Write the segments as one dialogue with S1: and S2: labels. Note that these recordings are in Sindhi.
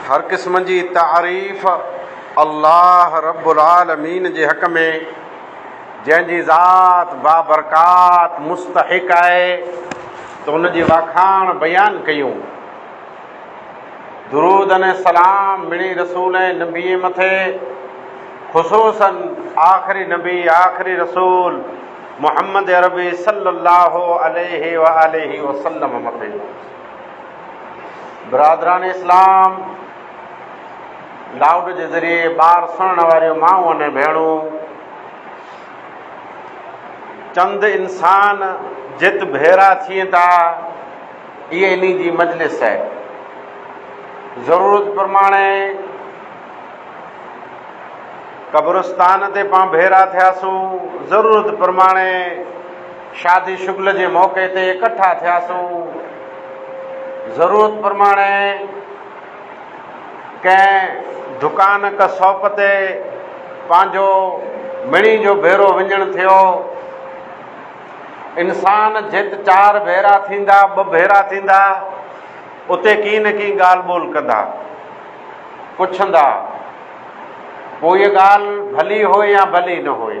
S1: هر قسم جي تعريف الله رب العالمين جي حق ۾، جنهن جي ذات بابرڪات مستحق آهي ته ان جي واکاڻ بيان ڪيون. درود ۽ سلام مڙئي رسول ۽ نبيء مٿي، خصوصاً آخري نبي آخري رسول محمد عربي صلّي اللّٰه عليه واٰله وسلّم مٿي. برادران اسلام لائوڊ جي ذريعي ٻار سڻڻ واريون مائون ۽ ڀيڻون چند انسان جت ڀيرا ٿين تا اي اني جي مجلس ہے ضرورت پرماڻي قبرستان تي پان ڀيرا ٿياسون ضرورت پرماڻي شادي شغل جي موقعي تي اڪٺا ٿياسون. ضرورت پرماڻي ڪنهن دڪان ڪه ساپ تي پنهنجو مڙيء جو ڀيرو وڃڻ ٿيو. انسان جت چار ڀيرا ٿيندا، ٻه ڀيرا ٿيندا، اتي ڪي نه ڪي ڳالهه ٻولهه ڪندا، پڇندا، پوء ڳالهه ڀلي هئي يا ڀلي نه هئي.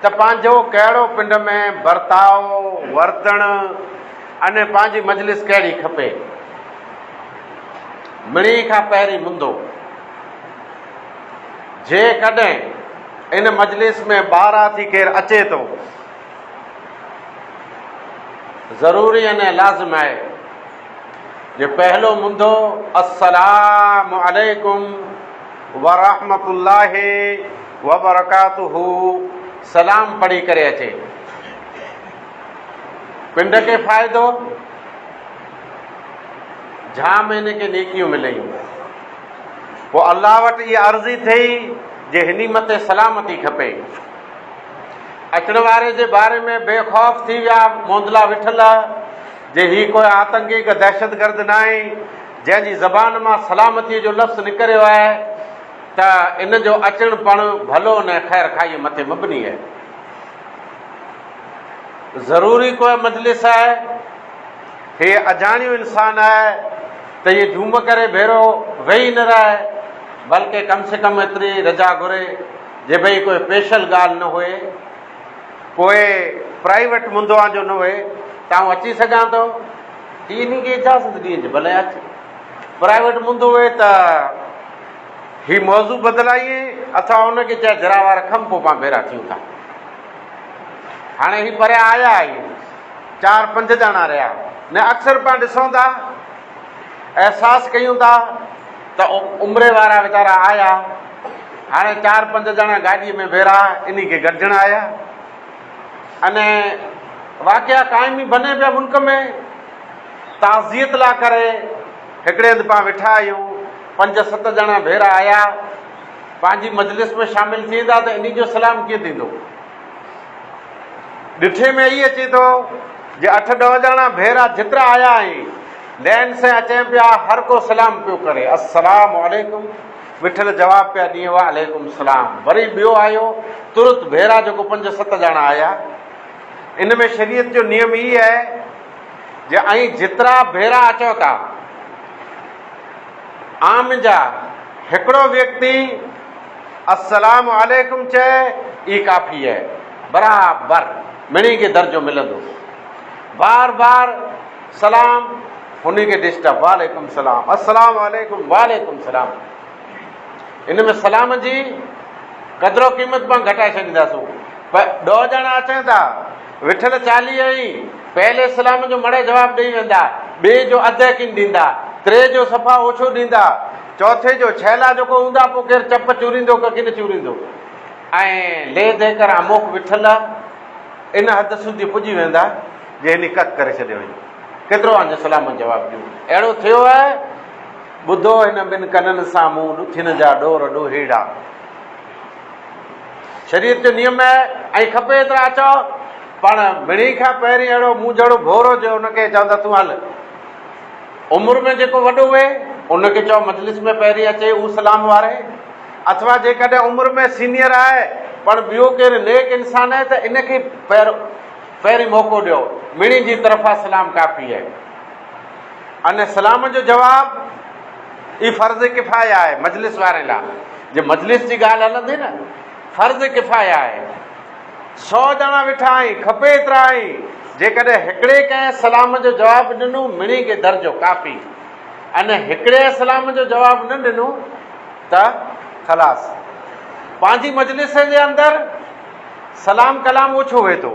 S1: ته پنهنجو ڪهڙو پنڊ ۾ برتاء، وردڻ ۽ پنهنجي مجلس ڪهڙي کپي. مڙيئي کان پهرين مندو، جيڪڏهن ان مجلس ۾ ٻاهران ٿي ڪير اچي ٿو، ضروري ۽ لازم آهي جو پهلو مندو السلام عليڪم ورحمة الله وبرڪاته سلام پڙهي ڪري اچي پنڊ کي فائدو جھا مھيني کي نيڪيون مليون پوء الله وٽ اها عرضي ٿي جي هني مٿي سلامتي کپي اچڻ واري جي باري ۾ بي خوف ٿي ويا موندلا وٺل جي هي ڪوئي آتنڪي ڪا دهشتگرد ناهي جنهن جي زبان مان سلامتي جو لفظ نڪريو آهي ته ان جو اچڻ پڻ ڀلو نه خير خاهيء مٿي مبني آهي. ضروري ڪوئي مجلس آهي. هي اجاڻيو انسان آهي ته ايئن جهوم ڪري ڀيرو ويهي نه رهي، بلڪه ڪم سي ڪم ايتري رجا گهري جي ڀئي ڪوئي پيشل ڳالهه نه هئي، ڪوئي پرائيوٽ منڌوان جو نه هئي ته آئون اچي سگهان ٿو. هي انهيء کي اجازت ڏينج ڀلي اچ. پرائيوٽ منڌو هئي ته. هي موضوع بدلائين اٿا ان کي چئه ڌرا وار کم پو پان ڀيرا ٿيون ٿا هاڻي هي پريا آيا آهي چار پنج ڄاڻا رهيا نه اڪثر پان ڏسون ٿا احساس ڪيون ٿا ته عمري وارا ويچارا آيا هاڻي چار پنج ڄاڻا گاڏي ۾ ڀيرا انهي کي گڏجڻ آيا ان واقعا قائمي بني پيا ملڪ ۾ تعزيت لا ڪري هڪڙي هنڌ پان ويٺا آهيون، پنج ست ڄڻا ڀيرا آيا، پنهنجي مجلس ۾ شامل ٿي ويندا ته انهي جو سلام ڪيئن ٿيندو؟ ڏٺي ۾ اهي اچي ٿو جي اٺ ڏهه ڄڻا ڀيرا جيترا آيا آهن، لين سين اچين پيا، هر ڪو سلام پيو ڪري، السلام عليڪم، وٺل جواب پيا ڏين، وعليڪم السلام، وري ٻيو آيو، ترت ڀيرا جيڪو پنج ست ڄڻا آيا، ان ۾ شريعت جو نيم هي آهي. جي ائين جيترا ڀيرا اچو ٿا آن جا هڪڙو ويڪتي السلام عليڪم چئي ئي ڪافي اهي برابر مڻي کي درجو ملندو بار بار سلام هني کي ڊسٽرب وعليڪم سلام السلام عليڪم وعليڪم سلام ان ۾ سلام جي قدر و قيمت پان گهٽائي ڇڏينداسون پر ڏو ڄڻا اچن ٿا وٺل چاليهه ۽ پهل اسلام جو مڙهي جواب ڏئي ويندا، ٻئي جو اڌ يقين ڏيندا، ٽئين جو صفا اوڇو ڏيندا، چوٿين جو ڇيلا جوڪو هوندا پوء ڪير چپ چوريندو ڪه ڪين چوريندو ۽ ليه ديه ڪر اموک وٺل ان حد سوڌي پڄي ويندا جي هني ڪک ڪري ڇڏيو هئي ڪيترو آن جو سلامت جواب ڏيون اهڙو ٿيو هي ٻڌو هن ٻن ڪنن سان مون ڏٿين جا ڏور ڏوهيڙا. شريعت جو نيم اهي ۽ کپي ايترا اچاء پاڻ مڙني کان پهرين اهڙو مون جهڙو ڀورو جو ان کي چوندا تون هل عمر ۾ جيڪو وڏو هئي ان کي چئو مجلس ۾ پهرين اچي اهو سلام واري اٿوا جيڪڏهن عمر ۾ سينيئر آهي پڻ ٻيو ڪير نيڪ انسان آهي ته ان کي پهرين موقعو ڏيو مڙني جي طرفان سلام ڪافي اهي. ان سلام جو جواب ئي فرض ڪفايه آهي مجلس واري لا جي مجلس جي ڳالهه هلندي نه فرض ڪفايه آهي سو ڄڻا ويٺا آهي کپي ايترا آهي جيڪڏهن هڪڙي ڪنهن سلام جو جواب ڏنو مڙي کي درجو ڪافي ان هڪڙي سلام جو جواب نه ڏنو ته خلاص پنهنجي مجلس جي اندر سلام ڪلام اوڇو هئي ٿو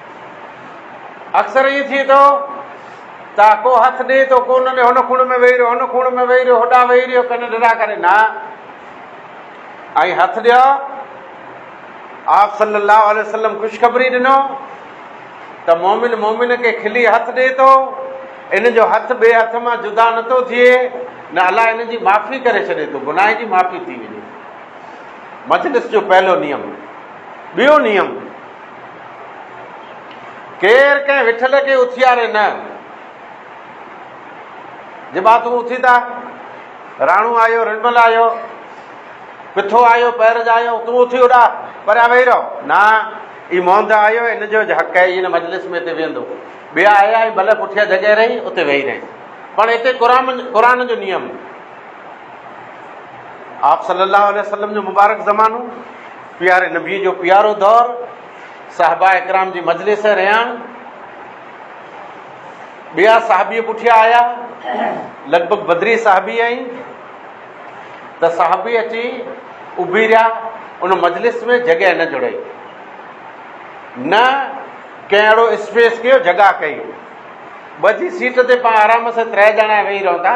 S1: اڪثر ائين ٿئي ٿو ته ڪو هٿ ڏئي ٿو ڪو نه ڏئي هن کوڻ ۾ ويهي رهيو هن کوڻ ۾ ويهي رهيو هوڏا ويهي رهيو ڪن ڊرا ڪري نه ۽ هٿ ڏيو آپ صلي الله عليه وسلم خوشخبري ڏنو ته مومن مومن کي کلي هٿ ڏئي ٿو ان جو هٿ ٻئي هٿ مان جدا نه ٿو ٿئي نه الاء ان جي معافي ڪري ڇڏي ٿو گناهه جي معافي ٿي وڃي مجلس جو پهلو نيم ٻيو نيم ڪير ڪنهن وٺل کي اٿياري نه. جبا تون اٿي ٿا، راڻو آيو، رنمل آيو، پٿو آيو، پير جايو، تون اٿي هوڏا پريا ويهي رهو. نه، هي موند آيو، هن جو اڄ حق آهي، هي هن مجلس ۾ هتي ويهندو. ٻيا آيا آهي، ڀلي پٺيان جڳهه رهي، اتي ويهي رهين. پڻ هتي قرآن جو نيم. آپ صلي الله عليه وسلم جو مبارڪ زمانو. پياري نبيء جو پيارو دور، صحابه اڪرام جي مجلس رهيان، ٻيا صحابي پٺيان آيا، لڳ ڀڳ بدري صحابي آئين ته صحابي اچي اڀي رهيا، ان مجلس ۾ جڳهه نه جڙئي، نه ڪنهن اهڙو اسپيس ڪيو جڳهه ڪئي، ٻڌي سيٽ تي پاڻ آرام سان ترهه ڄڻا ويهي رهون ٿا،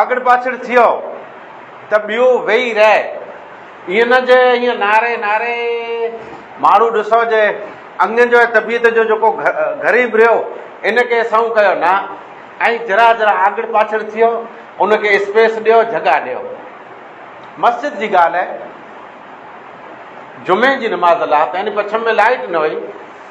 S1: آڳڙ پاڇڙ ٿيو ته ٻيو ويهي رهي. ائين نه جو ائين ناري ناري ماڻهو ڏسو جو اڱين جو ۽ طبيعت جو جيڪو غريب رهيو ان کي سنئون ڪيو نه ۽ جرا جرا آڳڙ پاڇڙ ٿيو ان کي اسپيس ڏيو جڳهه ڏيو. مسجد جي ڳالهه جمعي جي نماز لاء پهرين پڇم ۾ لائيٽ نه هئي.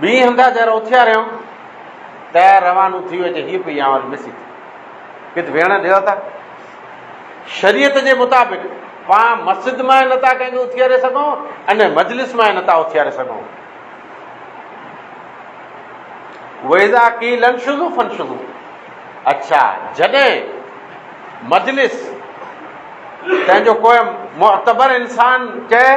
S1: ٻئي هنڌان جر اٿياريم ته روانو ٿي ويو هي پئي آن وري مس ٿي ڪٿ ويڻ ڏيو ٿا شريعت جي مطابق پاڻ مسجد مان نه ٿا ڪنهن کي اٿياري سگھون ان مجلس مان نه ٿا اٿياري سگھون ويزا کی لن شروع فن شروع اچھا جڏهن مجلس تنهنجو ڪوئي معتبر انسان چئي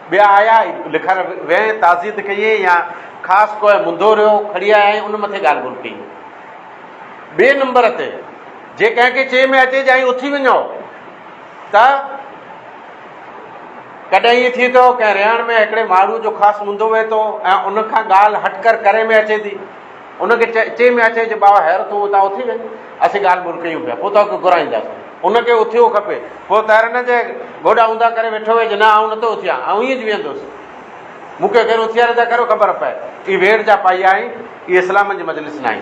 S1: ٻيا آيا ۽ لکڻ ويهين، تعزيت ڪيئين يا خاص ڪو ۽ منڌو رهيو، کڙي آيا ۽ ان مٿي ڳالهه ٻولهه ڪئي. ٻئي نمبر تي جي ڪنهن کي چئي ۾ اچي ڄائين اٿي وڃو ته ڪڏهن ائين ٿئي ٿو ڪنهن رهڻ ۾ هڪڙي ماڻهوء جو خاص منڌو ويهي ٿو ۽ ان کان ڳالهه هٽ ڪر ڪري ۾ اچي ٿي. ان کي چئي چئي ميان چئي جو ٻاوا هير تون اتان اٿي وڃ، اسين ڳالهه ٻولهه ڪيون پيا، پوء توکي گهرائينداسون. ان کي اٿيو کپي. پوء تهر نه جي گوڏا اونڌا ڪري ويٺو هئي جو نه آئون نٿو اٿيان، آئون ائين ئي ويهندوس. مون کي ڪير اٿياري ٿا ڪريو خبر پئي. اي ويڙهه جا پائي آهين، اي اسلامن جي مجلس ناهي.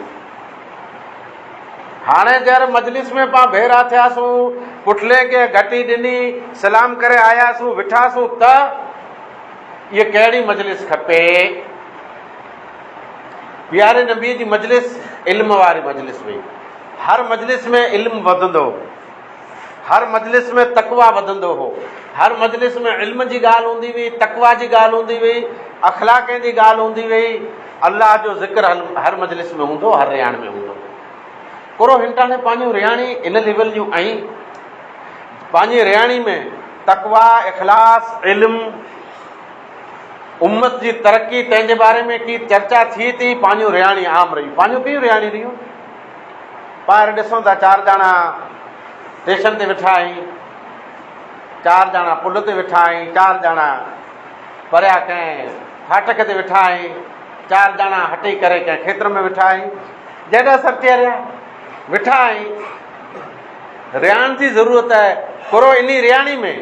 S1: هاڻي جر مجلس ۾ پان ڀيرا ٿياسون، پٺلين کي گهٽي ڏني، سلام ڪري آياسون، وٺاسون ته اهي ڪهڙي مجلس کپي. پياري نبيء جي مجلس علم واري مجلس هئي. هر مجلس ۾ علم وڌندو هو. هر مجلس ۾ تقويٰ وڌندو هو. هر مجلس ۾ علم جي ڳالهه هوندي هئي، تقويٰ جي ڳالهه هوندي هئي، اخلاقين جي ڳالهه هوندي هئي. الله جو ذڪر هر مجلس ۾ هوندو هو، هر رهاڻي ۾ هوندو هو. ڪرو هنٽاڻي پنهنجون رهاڻي ان ليول جون ۽ پنهنجي رهاڻي ۾ تقويٰ، اخلاص، علم، امت جي ترقي تنهن جي باري ۾ ڪي چرچا ٿي تي پاڃون رهاڻي عام رهيون پاڃون ڪيون رهاڻي رهيون ٻاهر ڏسون ٿا چار ڄاڻا اسٽيشن تي ويٺا آهين چار ڄاڻا پل تي ويٺا آهين چار ڄاڻا پريا ڪنهن ڦاٽڪ تي ويٺا آهين چار ڄاڻا هٽي ڪري ڪنهن کيتر ۾ ويٺا آهين جڏا سر ٿي رهيا ويٺا آهين رهاڻ جي ضرورت ڪرو انهي رهاڻي ۾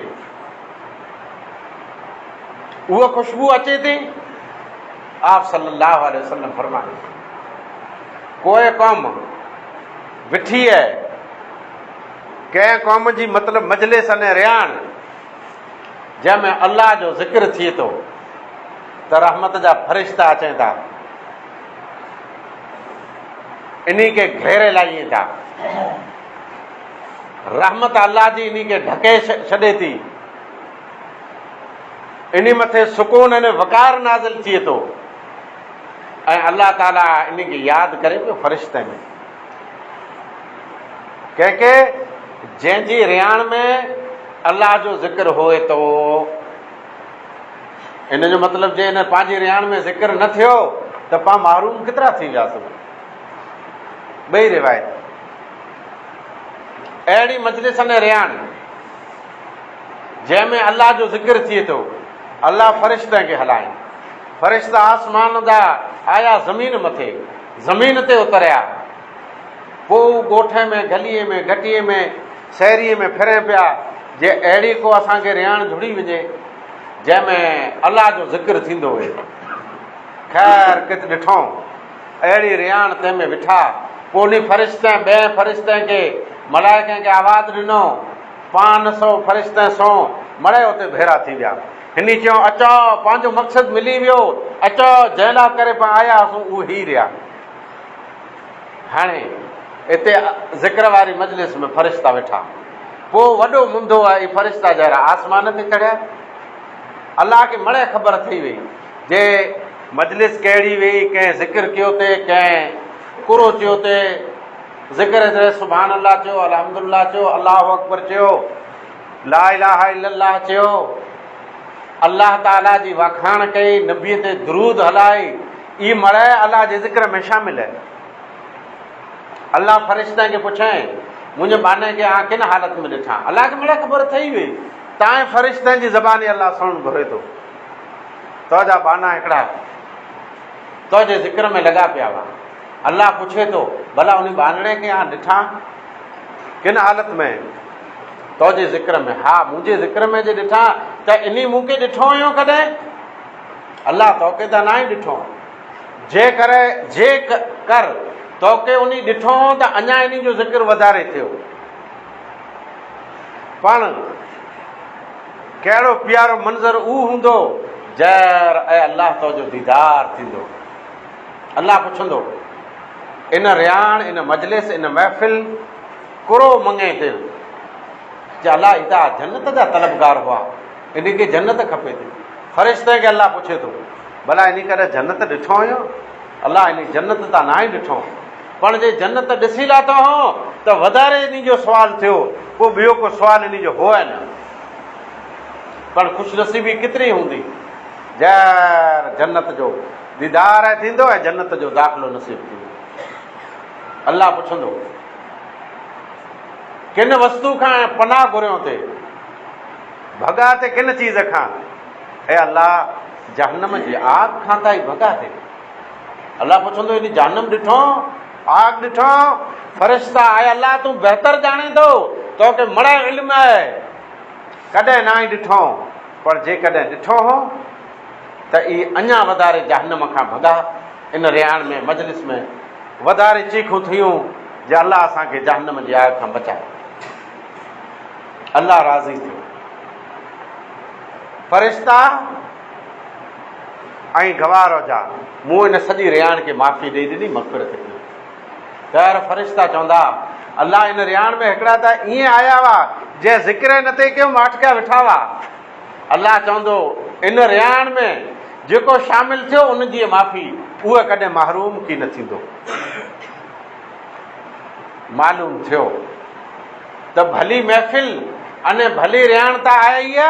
S1: اها خوشبو اچي ٿي آپ صلي الله عليه وسلم فرمائن ڪوئي قوم وٺي اي ڪنهن قوم جي مطلب مجلس ان رياڻ جنهن ۾ الله جو ذڪر ٿئي ٿو ته رحمت جا فرشتا اچن ٿا انهي کي گهيري لائين ٿا رحمت الله جي انهي کي ڍڪي ڇڏي ٿي. انهي مٿي سڪون ۽ وقار نازل ٿئي ٿو ۽ الله تعاليٰ انهي کي ياد ڪري پيو فرشتن ۾. ڪنهن کي؟ جنهن جي رهاڻ ۾ الله جو ذڪر هئي ٿو. ان جو مطلب جي هن پنهنجي رهاڻ ۾ ذڪر نه ٿيو ته پان محروم ڪيترا ٿي وياسون. ٻئي روايت اهڙي مجلسن ۽ رهاڻي جنهن ۾ الله جو ذڪر ٿئي ٿو، الله فرشتن کي هلايائين. فرشتا آسمان جا آيا زمين مٿي، زمين تي اتريا. پوء هو ڳوٺ ۾، گليء ۾، گهٽيء ۾، سهريء ۾ ڦرين پيا، جي اهڙي ڪو اسان کي رهاڻ جڙي وڃي، جنهن ۾ الله جو ذڪر ٿيندو هئي. خير ڪٿ ڏٺائون؟ اهڙي رياڻ تنهن ۾ وٺا. پوء انهي فرشتين، ٻئين فرشتين کي، ملائڪن کي آواز ڏنو. پانهن سؤ فرشتين سون مڙئي اتي ڀيڙا ٿي ويا. هني چيو، اچو، پنهنجو مقصد ملي ويو. اچو، جنهن لاء ڪري پان آيا هئاسون، اهو هي ريا. هاڻي اتي ذڪر واري مجلس ۾ فرشتا ويٺا. پوء وڏو منڌو اهي فرشتا جهڙا آسمان تي چڙهيا. الله کي مڙئي خبر ٿي ويئي. جي مجلس ڪهڙي ويئي ڪنهن ذڪر ڪيو تي ڪنهن قرو چيو تي ذڪر ادري سبحان الله چيو الحمد الله چيو الله اڪبر چيو لا اله الا الله چيو الله تعالي جي وکاڻ ڪئي نبي تي درود هلائي اي مڙهي الله جي ذڪر ۾ شامل آهي الله فرشتن کي پڇين منهنجي باني کي آ ڪن حالت ۾ ڏٺا الله کي مڙهي خبر ٿئي وئي تائين فرشتن جي زباني الله سڻن گهري ٿو تو جا ٻانها هڪڙا تو جي ذڪر ۾ لڳا پيا هئا. الله پڇي ٿو، ڀلا انهي ٻانهڙي کي آء ڏٺان ڪن حالت ۾؟ تو جي ذڪر ۾، ها مون جي ذڪر ۾ جي ڏٺان ته انهي مون کي ڏٺو هيون ڪڏهن؟ الله تو کي ته ناهي ڏٺو. جي ڪر جي ڪر تو کي انهي ڏٺو هون ته اڃا انهي جو ذڪر وڌاري ٿيو. پڻ ڪهڙو پيارو منظر اهو هوندو جئر اي الله تنهنجو ديدار ٿيندو. الله پڇندو، ان رياڻ، ان مجلس، ان محفل ڪرو مڱي دل. چئه الله هي ته آ جنت جا طلبگار هئا، انهن کي جنت کپي ٿي. فرشتن کي الله پڇي ٿو، ڀلا انهي ڪڏهن جنت ڏٺو هيون؟ الله انهي جنت تان ناهي ڏٺو. پڻ جي جنت ڏسي لاٿو هون ته وڌاري انهي جو سوال ٿيو، پوء ٻيو ڪو سوال انهي جو هو ئي نه. پڻ خوش نصيبي ڪيتري هوندي جئر جنت جو ديدار ئي ٿيندو ۽ جنت جو داخلو نصيب ٿيندو. الله پڇندو، ڪن وستو کان پناهه گهريون ٿي، ڀڳا ٿي ڪن چيز کان، اي الله جهنم جي آگ کان ته آء ڀڳا ٿي. الله پڇندو هيڏي جهنم ڏٺئون؟ آگ ڏٺئون؟ فرشتا، اي الله! تون بهتر ڄاڻين ٿو، توکي مڙئي علم آهي. ڪڏهن ناهي ڏٺئون، پر جيڪڏهن ڏٺو هو ته اي اڃا وڌاري جهنم کان ڀڳا. ان رهاڻ ۾ مجلس ۾ وڌاري چيخون ٿيون جي الله اسان کي جهنم جي آگ کان بچاء. الله راضي ٿيو. فرشتا، ۽ گواهه رهجا، مون ان سڄي رياڻ کي معافي ڏئي ڏني، مغفرت ڪئي. غير فرشتا چوندا، الله ان رياڻ ۾ هڪڙا ته ائين آيا هئا، جنهن ذڪر ئي نه تئي ڪيو، ماٺڪيا ويٺا هئا. الله چوندو، ان رياڻ ۾ جيڪو شامل ٿيو، ان جيئي معافي، اهو ڪڏهن محروم ڪي نه ٿيندو. معلوم ٿيو ته ڀلي محفل ۽ ڀلي رياڻ ته آيا ئي آ،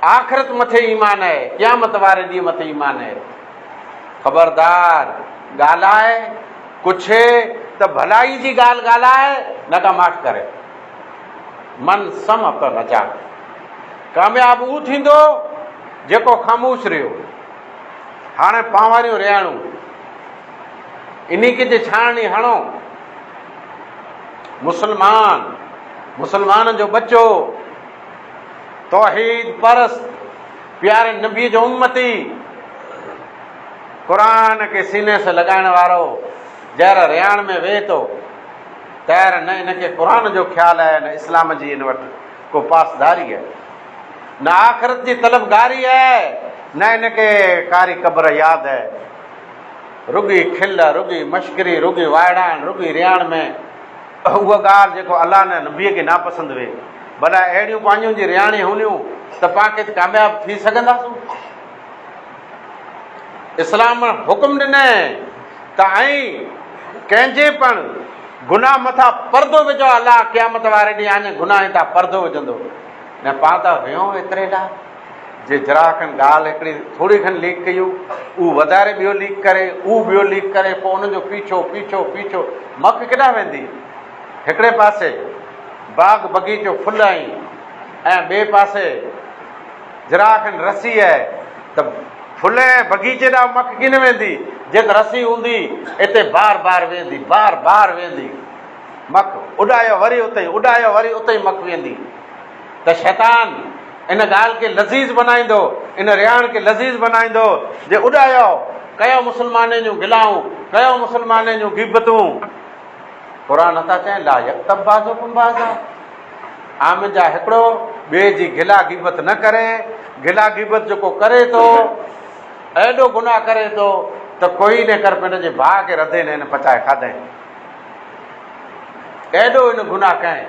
S1: آخرت مٿي ايمان آهي، قيامت واري ڏينهن مٿي ايمان آهي. خبردار! ڳالهاء، پڇ ته ڀلائي جي ڳالهه ڳالهاء، نه ڪا ماٺ ڪري. من صمت نجا. ڪامياب اهو ٿيندو، جيڪو خاموش رهيو. هاڻي پانواريون رياڻون. انيڪ جي ڇاڻڻي هڻو. مسلمان، مسلمان جو ٻچو. توحيد پرست، پياري نبي جو امتي، قرآن کي سيني سان لڳائڻ وارو جهر رياڻ ۾ وهي ٿو، تهر نه ان کي قرآن جو خيال آهي نه اسلام جي ان وٽ ڪو پاسداري آهي، نه آخرت جي طلبگاري آهي نه ان کي ڪاري قبر ياد آهي. رڳي کل، رڳي مشڪري، رڳي وائڙائڻ، رڳي رياڻ ۾. اها ڳالهه جيڪو الله نه نبيء کي ناپسند هئي. ڀلا اهڙيون پاڃون جي رياڻي هونديون ته پان ڪٿ ڪامياب ٿي سگهنداسون؟ اسلام حڪم ڏنئين ته ائين ڪنهن جي پڻ گناهه مٿان پردو وجهو الله قيامت واري ڏينهن آڃي گناهن تان پردو وجهندو نه پان ته هيون ايتري لاء جي گراهڪن ڳالهه هڪڙي ٿوري کن ليڪ ڪئي هو اهو وڌاري ٻيو ليڪ ڪري اهو ٻيو ليڪ ڪري پوء انهن جو پيڇو پيڇو پيڇو مڪ ڪيڏانهن ويندي هڪڙي پاسي باغ بغيچو ڦل ۽ ۽ ٻئي پاسي گراهڪن رسي آهي ته ڦل ۽ بغيچي ڏانهن مڪ ڪين ويندي جي ته رسي هوندي اتي بار بار ويندي بار بار ويندي مڪ اڏايو وري اتي اڏايو وري اتي مڪ ويندي ته شيطان ان ڳالهه کي لذيذ بنائيندو، ان رهاڻ کي لذيذ بنائيندو، جي اڏايو، ڪيو مسلمانين جون گلائون، ڪيو مسلمانين جون غيبتون. قرآن نٿا چئين، لا يغتب بعضڪم بعضا، آمن جا هڪڙو ٻئي جي گلا غيبت نه ڪري، گلا غيبت جيڪو ڪري ٿو، اهڙو گناهه ڪري ٿو ته ڪوئي نه ڪر پنهنجي جي ڀاء کي رڌي نه هن پچائي کاڌئين، اهڙو هن گناهه ڪئين.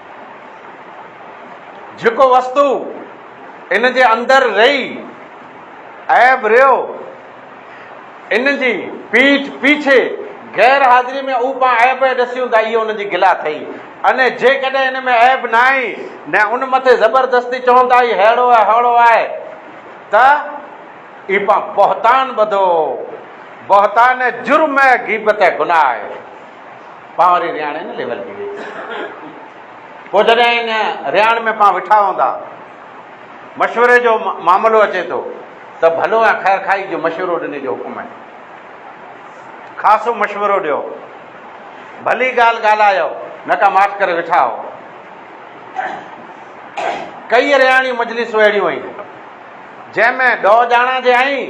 S1: جيڪو وستو ان جي اندر رهي عيب رهيو، ان جي پيٺ پيڇي غير حاضريء ۾ اهو پاڻ عيب پئي ڏسيون ته اهو ان جي گلا ٿئي ۽ جيڪڏهن ان ۾ عيب ناهي نه ان مٿي زبردستي چون ته هي ههڙو آهي ههڙو آهي ته اهو پاڻ بهتان ٻڌو، بهتان ۽ جرم ۽ غيبت ۽ گناهه آهي. پاڻ وري رياڻي ۾ ليول ٿي وئي پوء جڏهن ان رياڻ ۾ پاڻ وٺا هوندا مشوري جو معاملو اچي ٿو ته ڀلو ۽ خير کائي جو مشورو ڏني جو حڪم آهي خاصو مشورو ڏيو ڀلي ڳالهه ڳالهايو نه ڪا ماٺ ڪري ويٺا هو ڪئي رياڻي مجلسون اهڙيون آهن جنهن ۾ ڏهه ڄاڻا جي آهين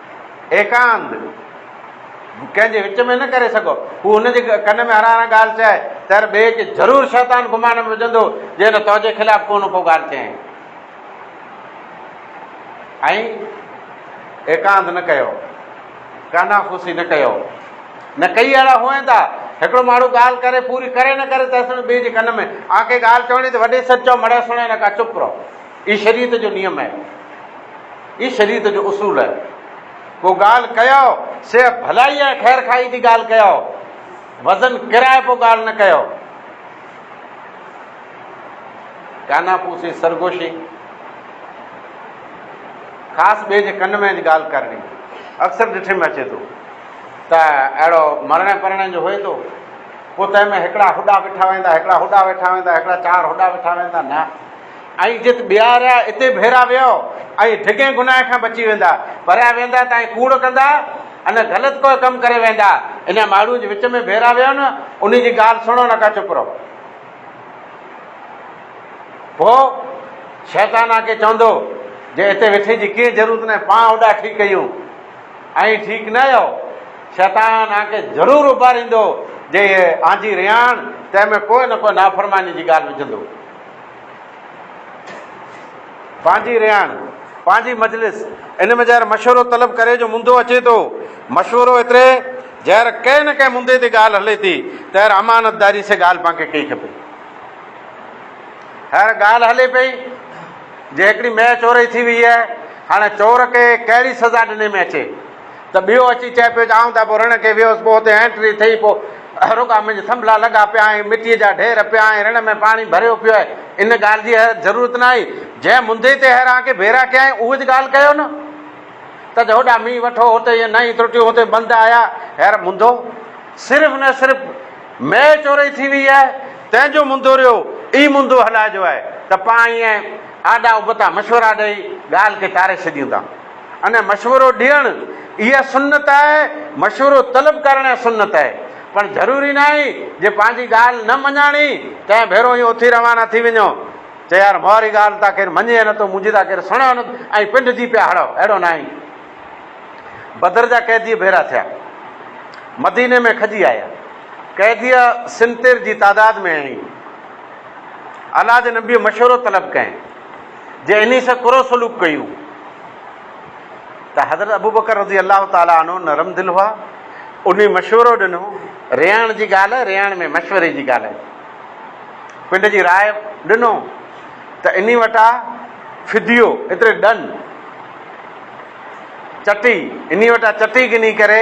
S1: ايڪانت ڪنهن جي وچ ۾ نه ڪري سگهو. هو هن جي ڪن ۾ هران هران ڳالهه چئي ته هر ٻئي کي ضرور شيطان گمان ۾ وجهندو جي هن توجي خلاف ڪو نه ڪو ڳالهه چيائين. ائين ايڪانت نه ڪيو. ڪانافوسي نه ڪيو. نه ڪئي اهڙا هونئن ته هڪڙو ماڻهو ڳالهه ڪري پوري ڪري نه ڪري تيسڻ ٻئي جي ڪن ۾ آنڪي ڳالهه چوڻي ته وڏي سچ چئو مڙئي سڻئي نه ڪا چپ رهو. هي شريعت جو نيم آهي. هي شريعت جو اصول آهي. ڪو ڳالهه ڪيو، سيء ڀلائيء ۽ خير خواهيء جي ڳالهه ڪيو. وزن ڪرائي پوء ڳالهه نه ڪيو. ڪاناپوسي، سرگوشي، خاص ٻئي جي ڪن ۾ اچ ڳالهه ڪرڻي، اڪثر ڏٺي ۾ اچي ٿو ته اهڙو مرڻي پرڻي جو هئي ٿو، پوء تنهن ۾ هڪڙا هوڏا وٺا ويندا، هڪڙا هوڏا وٺا ويندا، هڪڙا چار هوڏا وٺا ويندا، نه! ۽ جت ٻيا رهيا اتي ڀيرا ويهو ۽ ڊگهين گناهه کان بچي ويندا، پريا ويندا ته ائين ڪوڙ ڪندا ان غلط ڪوئي ڪم ڪري ويندا، انهن ماڙهون جي وچ ۾ ڀيرا ويهو نه انهي جي ڳالهه سڻو نه ڪا چپ رهو. پوء شيطان آ ڪي چوندو جي اتي ويٺي جي ڪيئي ضرورت ناهي پان اوڏا ٺيڪ ڪيون ائين ٺيڪ نه اهو شيطان آ ڪي ضرور اڀاريندو جي آنجي رياڻ تنهن ۾ ڪوئي نه ڪوئي نافرماني جي ڳالهه وجهندو. پنهنجي رهاڻ، پنهنجي مجلس، ان ۾ جهر مشورو طلب ڪري جو منڌو اچي ٿو. مشورو ايتري جهر ڪنهن نه ڪنهن منڌي تي ڳالهه هلي ٿي، تهر امانتداري سين ڳالهه پنهنکي ڪئي کپي. هينئر ڳالهه هلي پئي جي هڪڙي مئي چورئي ٿي ويئي آهي، هاڻي چور کي ڪهڙي سزا ڏني ۾ اچي؟ ته ٻيو اچي چئي پيو ته آئون ته اڀو رڻ کي ويوس، پوء اتي اينٽري ٿئي، پوء رڳا منهنجا ٿنڀلا لڳا پيا آهن، مٽيء جا ڍير پيا آهن، رڻ ۾ پاڻي ڀريو پيو آهي، ان ڳالهه جي حيرت ضرورت ناهي، جنهن منڌيء تي هيران کي ڀيرا ڪيائين، اهوئي ڳالهه ڪيو نه ته هوڏا مينهن وٺو، هتي ائين نئين ترٽيون، هتي بند آيا، هير منڌو صرف نه صرف مئي چورئي ٿي ويئي آهي، تنهن جو منڌو ريو ئي منڌو هلائجو آهي ته پاڻ ائين آڏا ابتا مشورا ڏيئي ڳالهه کي ٽاري ڇڏيون ٿا. ان مشورو ڏيڻ اها سنت آهي، مشورو طلب ڪرڻ اها سنت آهي، پر ضروري ناهي جي پنهنجي ڳالهه نه مڃاڻي ڪنهن ڀيرو ائين اٿي روانا ٿي وڃو چي يار مهاري ڳالهه ته ڪير مڃي ئي نه ٿو منهنجي ته ڪير سڻي ئي نه ٿو ۽ پنڊ جي پيا هڙئو اهڙو ناهي بدر جا قيدي ڀيرا ٿيا مديني ۾ کڄي آيا قيدي سنتير جي تعداد ۾ هئي الله جي نبي مشورو طلب ڪئين جي انهي سان ڪرو سلوڪ ڪيون ته حضرت ابوبڪر رضي الله تعالٰي عنه نرم دل هئا، انهي مشورو ڏنو، رياڻ جي ڳالهه رياڻ ۾ مشوري جي ڳالهه پنڊ جي راء ڏنو ته انهي وٽ آ فديو ايتري ڏن چٽي انهي وٽ آ چٽي گني ڪري